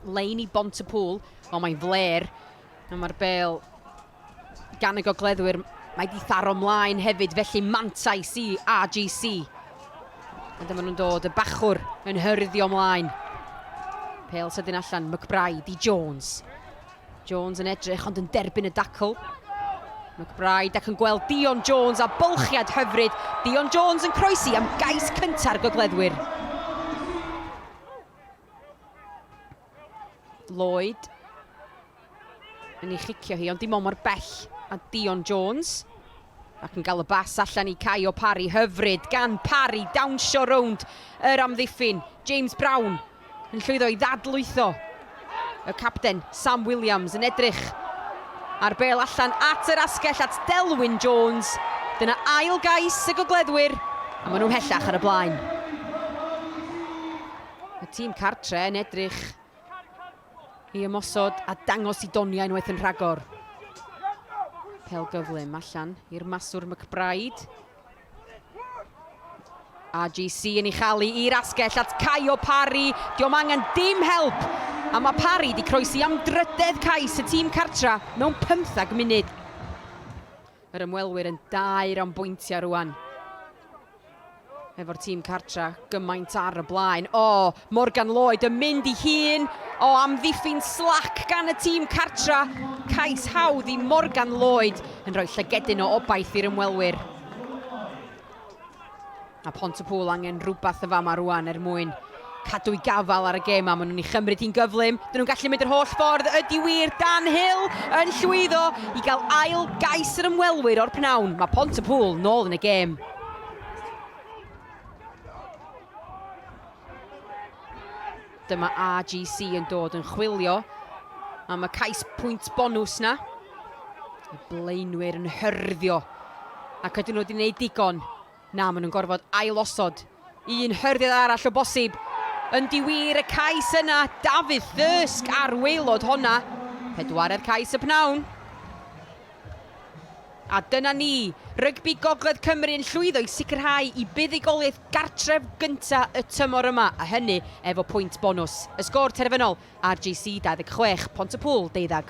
Lein i bont y pŵl, ond mae'n fler. A mae'r bel gan y gogleddwyr, mae di tharo mlaen hefyd, felly mantais i RGC. A dyma nhw'n dod, y bachwr yn hyrddio mlaen. Pel sydyn allan, McBride i Jones. Jones yn edrych ond yn derbyn y dacl. McBride ac yn gweld Dion Jones a bylchiad hyfryd. Dion Jones yn croesi am gais cynta'r gogleddwyr. Lloyd yn ei chicio hi ond dim ond mor bell a Dion Jones. Ac yn cael y bas allan i Kye o Parry, hyfryd gan Parry dawnsio rownd yr amddiffyn. James Brown yn llwyddo i ddadlwytho y capten Sam Williams yn edrych ar bêl allan at yr asgell at Delwyn Jones. Dyna ail gais y gogleddwyr a maen nhw'n hellach ar y blaen. Y tîm cartre yn edrych I ymosod a dangos i doniau unwaith yn rhagor. Pel gyflym allan i'r maswr McBride. RGC yn ei chalu i'r asgell at Caio Parry. Diolch angen dim help. A mae Parry wedi croesi am drydedd cais y tîm cartra mewn 15 munud. Yr ymwelwyr yn daer am bwyntiau rwan. Efo'r tîm cartra gymaint ar y blaen. O, Morgan Lloyd yn mynd i hun. O, amddiffyn slac gan y tîm cartra. Cais hawdd i Morgan Lloyd yn rhoi llygedyn o obaith i'r ymwelwyr. Mae Pontypŵl angen rhywbeth yn fama rwan er mwyn cadw'i gafael ar y gêm a maen nhw'n ei chymryd hi'n gyflym. Dyn nhw'n gallu mynd yr holl ffordd, ydy wir, Dan Hill yn llwyddo i gael ail gais yr ymwelwyr o'r pnawn. Mae Pontypŵl nôl yn y gêm. Dyma AGC yn dod yn chwilio am y cais pwynt bonws na. Y blaenwyr yn hyrddio ac ydyn nhw wedi gwneud digon Na, maen nhw'n gorfod ailosod un hyrddiad arall o bosib. Yn diwir y cais yna, Dafydd Thirsk ar waelod honna. Pedwaredd cais y pnawn. A dyna ni, rygbi Gogledd Cymru yn llwyddo i sicrhau i buddugoliaeth gartref gynta y tymor yma, a hynny efo pwynt bonws. Y sgôr terfynol, RGC 26, Pont-y-pŵl deuddag.